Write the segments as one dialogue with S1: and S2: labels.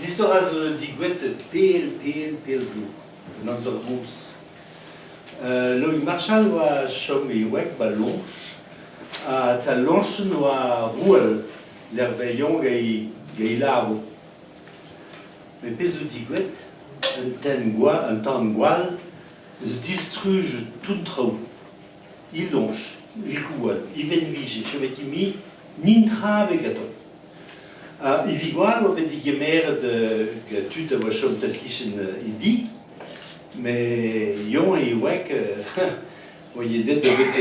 S1: Istor a zo digouet pell, pell, pell zo, un amzer-noz. Uh, Loïc Marchal oa chom e wreg ba Loñch, ha ta Loñchen oa rouel lec'h Veilhon gant e labour. Met pezh zo digouet, un tenn gwall, un tan gwall, eus distruj tout traoù. Il Loñch, il rouel, il venvige, je m'étais mis, ni tra avec attends. Ha e Vigwal oa bet degemeret tud a oa chom tal-kichen e di, met Yon e wek oa aet da get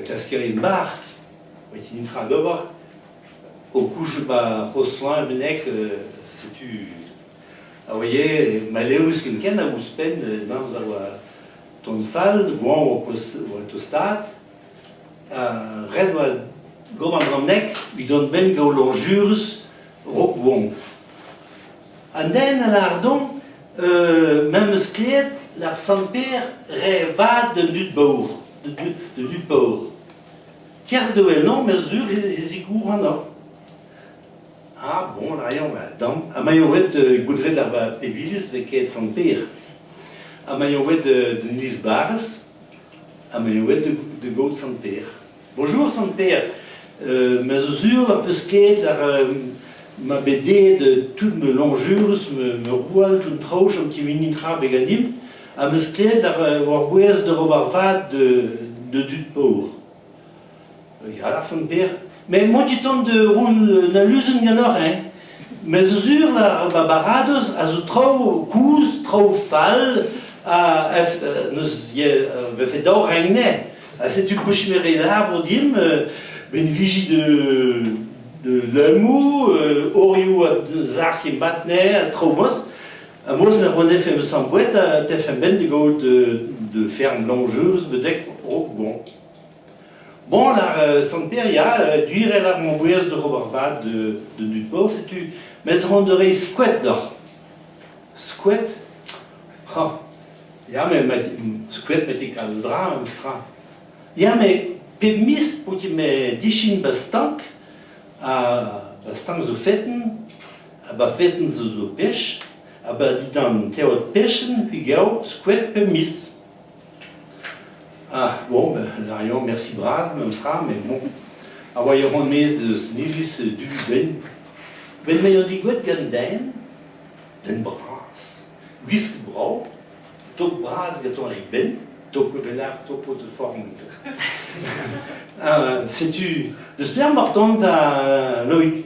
S1: klaskerien-bac'h, oa ket netra d'ober, o kouzout ma c'hozh-soin mennek setu a oa ivez malevrus ken-ken hag ouzhpenn, an amzer oa tont fall, goañv oa tostaat. Ret oa gober bronneg evit-hont-benn gant loñjurez Rock-Wong. An den a lâr deomp m'em eus klevet lar Sant-Pêr re vat d'un dud paour, d'un dud paour. Kerzh da wellañ ma sur e zigouranoc'h. Ha bon, raio wel damp. Ha maio ret goudret ar pep iliz 'vez kaet Sant-Pêr. Ha maio ret d'un iliz-barrez. ha me eo aet da gaout Sant-Pêr. Bonjour Sant-Pêr, euh, me zo sur am peus kaet ar... Euh, ma bet aet tout ma lañjurus, ma roual tout traoù chom kemini tra be ganimp, am eus klevet ar, war bouez d'ober vat de, de dud paour. Ya, lârfen berr. Met emañ dit tont da vont un aluzen ganeoc'h, hein? Me zo sur, la, ma baradoz a zo traoù kozh, traoù fall, ha neus vefe dav reiñ ne. Ha setu pochmer e labour dimp, met viji de, de lemoù, orioù a zac'h e mat ne, ha traoù boaz. Ha moz ne ro nefe ma samm boued ha tefemp benn da gaout da ferm Lanjeuz betek Rokbourg. Bon, ar euh, sant-Père, ya, euh, duirel ar Montbouez d'oc'h ober vad da dud bor, setu, mes hon da rei skoet d'oc'h. Skoet? Ha, ya, me, skoet me ti kalz dra, meus tra. Ya, me, pep mis pouti me dichin ba stank, ha ba stank zo feten, Ha bafetenn zo zo pech, ha ba dindan teod pechenn pigaou skoet pep miz. Ah, bon, ben, larion, merci bras, memes tra, mais bon. A oa e ran mez eus nilis du ben. Ben me eo digouet gant den, den bras, gwisk brao, tok bras gaton e ben, tok pe belar, topo de forme. Ah, setu, d'espère martant da Loïc.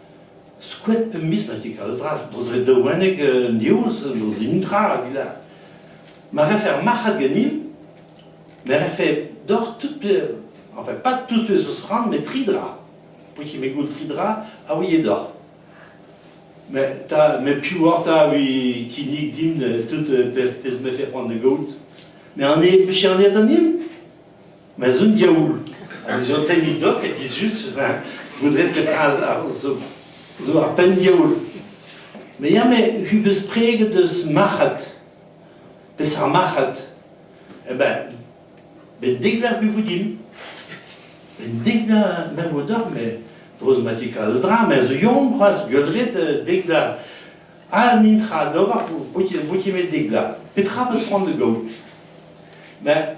S1: Skoet pemp miz ma ti Kalzas, d'o zre daouennek an diouz, d'o zintra hag ila. Ma refe ar marc'had ganin, me refe doc'h tout, enfin pas tout eus ran, met tri dra. Pout me goul tri dra a ouie doc'h. Mais ta, met piv oc'h ta vi kinnig dimp tout pezh pezh mefe c'hoant da gaout? Mais an eo pechernet an nin? Ma z'un diaoul, ez eo tenni dok e dizhus, ben, goudret petra zo ar penn-diaoul. Me ya, me hu beus preget eus marc'had. Peseurt marc'had Eh ben, bendik vec'h bu voudimp. Bendik vec'h mer vo doc'h, me dro zo mati kalz dra, me zo yon c'hoaz, gueldret euh, dek vla. Al nin tra d'ober, bouti met dek vla. Petra peus c'hoant da gaout? Ben,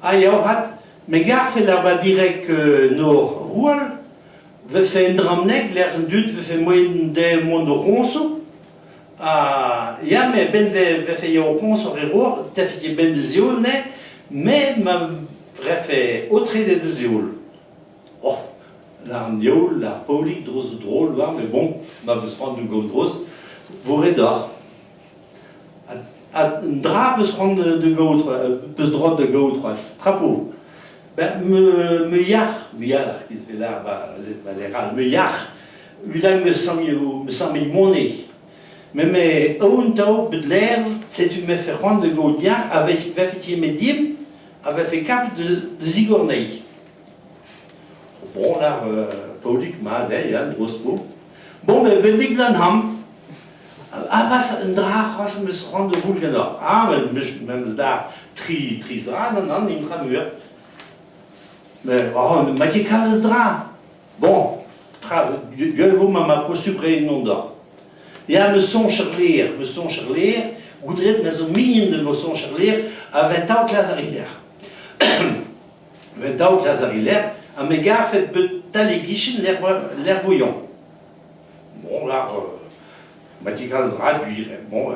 S1: Ha ya avat, me garfen arabat direk Nor Roal, 'vefe un drammneg lec'h an dud 'vefe moaien dezhe mont o c'hoñsoù. Ha ya, me a-benn 'vefe ya o c'hoñsour e Roar, 'tefe ket benn da zioul ne, me ma refe aotreet da zioul. Oh, an youl, ar Paolig, droz a drol war, me bon, ma 'peus c'hoant da gomz droz, 'vo re doc'h. Un dra peus c'hoant da gaout, peus droit da gaout c'hoazh, trapo. Ben, me, me yac'h, me yalc'h, giz ve lar va, va ler all, me yac'h, udag me samio, me samil mone. Met me aoun tao bet lerv, setu me fe c'hoant da gaout yac'h, a vefe ti me dim, a vefe kapet da zigornei. Bon lar euh, Paolik mat, eh, ya, drost po. Bon, me velik lan ham, Arras un dra c'hoazh am eus c'hoant da vout ganeoc'h. Ah, me'm eus da tri, tri zra d'an an inframur. Mais oh, ma ket kalz dra. Bon, tra, gwell vo ma ma poa supre ennon doc'h. Ya, me soñj ar lêr, me soñj ar lêr, goudret me zo mignon de ma soñj ar lêr, a ven daou klas ar lec'h. ven daou klas ar lec'h, ha me garfet bet tal e gichen lec'h voyon. Bon, ar, ma ti kalz ra gwir, bon,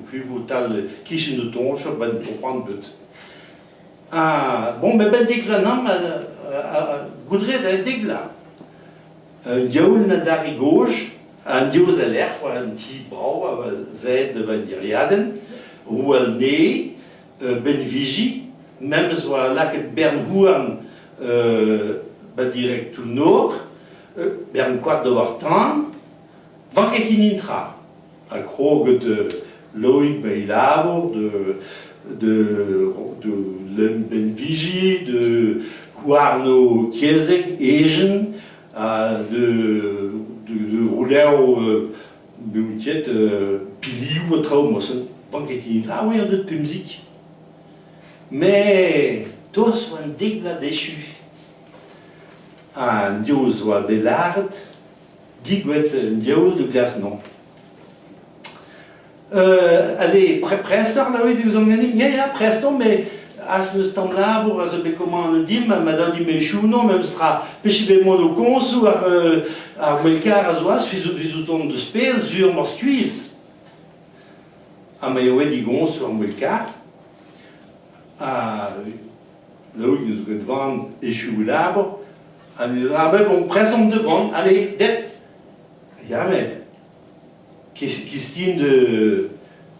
S1: kuvotal kichen o toñch, ben topan bet. Ah, bon, ben ben dek ranam, goudre da dek bla. Un diaoul na dari gozh, un diouz a lec'h, un ti brao a zed d'un diriadenn, ou un ne, benviji, memes oa lakaet bern houarn ba direk tout nor, bern koad d'ober tan, vanket hini tra. Ha kroget Loig bei labour de de de Lembenvigi, de Houarno Kiezek, Ejen, ha de de de rouleau meuntiet piliou ha traou mosen. Banket hini tra, oui, an deut pemzik. Me, toaz oa an dek bla dechu. An div zo a bet lâret, digouet un div da Glasnau. Euh, allez, prest ar laoit ouzh ganin? Ya, ya, prest on, mais az eus tamm labour a zo bet komant an dim, ma da di mechouno, memes tra, peche bet mon o konsoù ar, euh, ar melkar a zo az, fizout on deus pell, sur mor skuizh. Ha ma eo e di gons ar melkar, ha Laouig n'eus ket van echu e labour, ha ne labour bon prezant de van, allez, det Yann, kistin de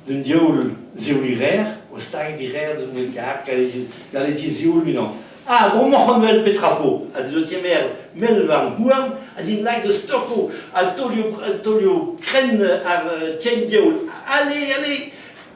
S1: d'un diaoul ziouli rer, o stag di rer deus mil kar, gale di zioul minan. Ah, bon moc'h wel petra po, ha deus ti mer, mel varn houarn, ha din lak de stocko, ha taolio, taolio kren ar tien diaoul, allez, allez,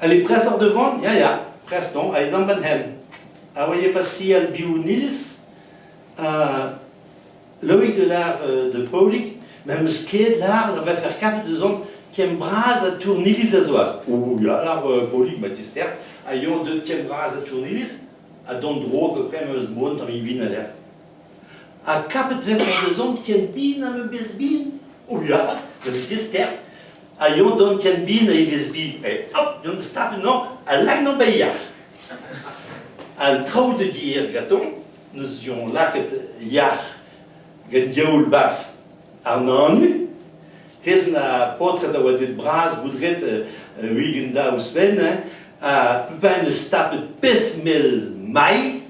S1: Allez, prest oc'h da vont? Ya, ya, prest on, aet d'am benn-hen. Aoye pa sial biou-nils, uh, Loïc de Lar euh, de Paulig, ma meus kleet lar da vefer kapet eus tien bras a tournilis a zoa. O, ya, lar euh, Paulig ma dister, a yo de tien bras a tournilis, a don dro pe pre meus moan tam ibin a ler. Ha kapet vefer eus tien bin a me bez bin, o ya, ma dister, a yo d'an ken bin a evezh-bi, e hop, d'an stapl-mañ a lak na bailhar. An traoù da dir gatoñ n'eus jon lakaet yac'h gant diaoul barzh ar nanu. Hez na paotred a oa det bras goudret euh, ugent da ouzhpenn, hein, ha peupin eus tapet pezh-mell mailh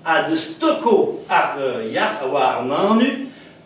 S1: ha deus toko ar euh, yac'h a oa ar nanu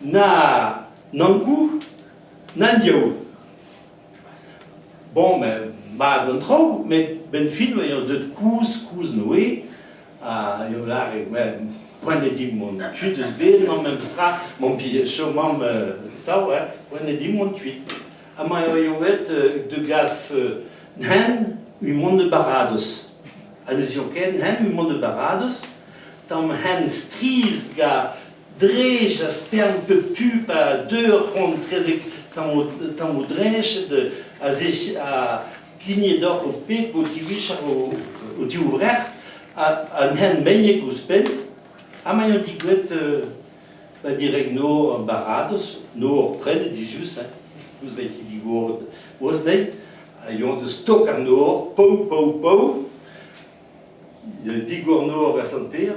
S1: Na nankoù, na diaoul. Bon, ben, mat an traoù, met benfilm eo deut kouzh-kouzh noe, ha eo lâret, well, poent eo dimp mont kuit eus bed mañ memes tra, mon chom mamm euh, tav, hein, poent eo dimp mont kuit. Amañ eo eo aet euh, de gas euh, nen un de barados. Ha ne ken nen un de barados, tam hen striz ga drech a spern pep tu pa deu ur c'hoant prezeg tammoù drech a kigne deoc'h ho peg o tivichat o divrec'h ha n'hen meigneg ouzhpenn ha ma eo digouet ba direg no baradoz no ur prenet dizhus hein ouzh da ti digoret ouzh dezhi a ioa da stok an nor pau pau pau digor nor a Sant-Pêr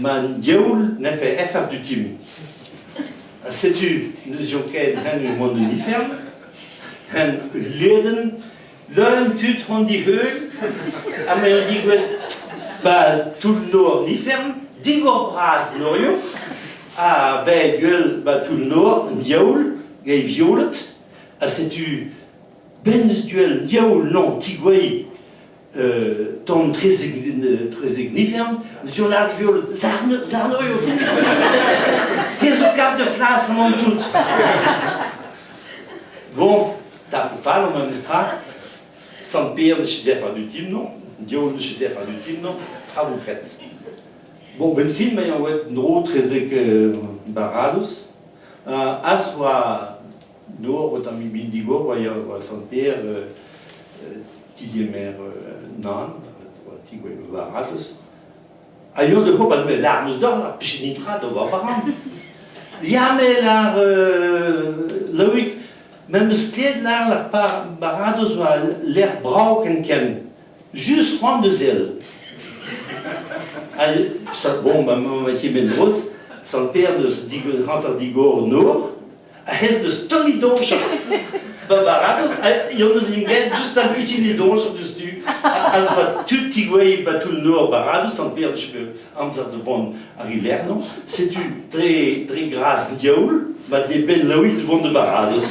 S1: M'an diaoul n'efe afer dutim. Ha setu n'euzio ket hen mont en ifern, hen ul liedenn, leuenn tud hon diheul, ha m'en digouel bal toull-nor an ifern, digor-bras norio, ha bet guel ba toull-nor an diaoul, gei violet, ha setu ben eus duel an diaoul non tigouei Tamm trezek nivern, zo lak viol zarno eo. Te zo kap de flas an antout. Bon, ta pou fall an memes tra, sant Pierre ne se def adutim non, Dieu ne se def adutim non, tra vous faites. Bon, ben film, eo et no trezek barados, az oa Dor o tamm ebet digor oa ya oa Sant-Pêr tigemer nan oa tigouez varatez a yo de hop al lar eus dor ha pich nitra d'o va baran ya me lar Loïc n'em eus ket lar lar baradoz oa lec'h brav ken ken just c'hoant da zel bon ba ma tiben droz Sant-Pêr neus hanter digor nor Ahez deus tammig doñjer. Va baradoz, yon eus int get just ar michini doñjer diouzhtu. Az va tud tigouezhet ba toull-nor baradoz an perch amzer de vont ar hilernoñ. Setu dre, dre gras diaoul ma deben laouit vont de baradoz.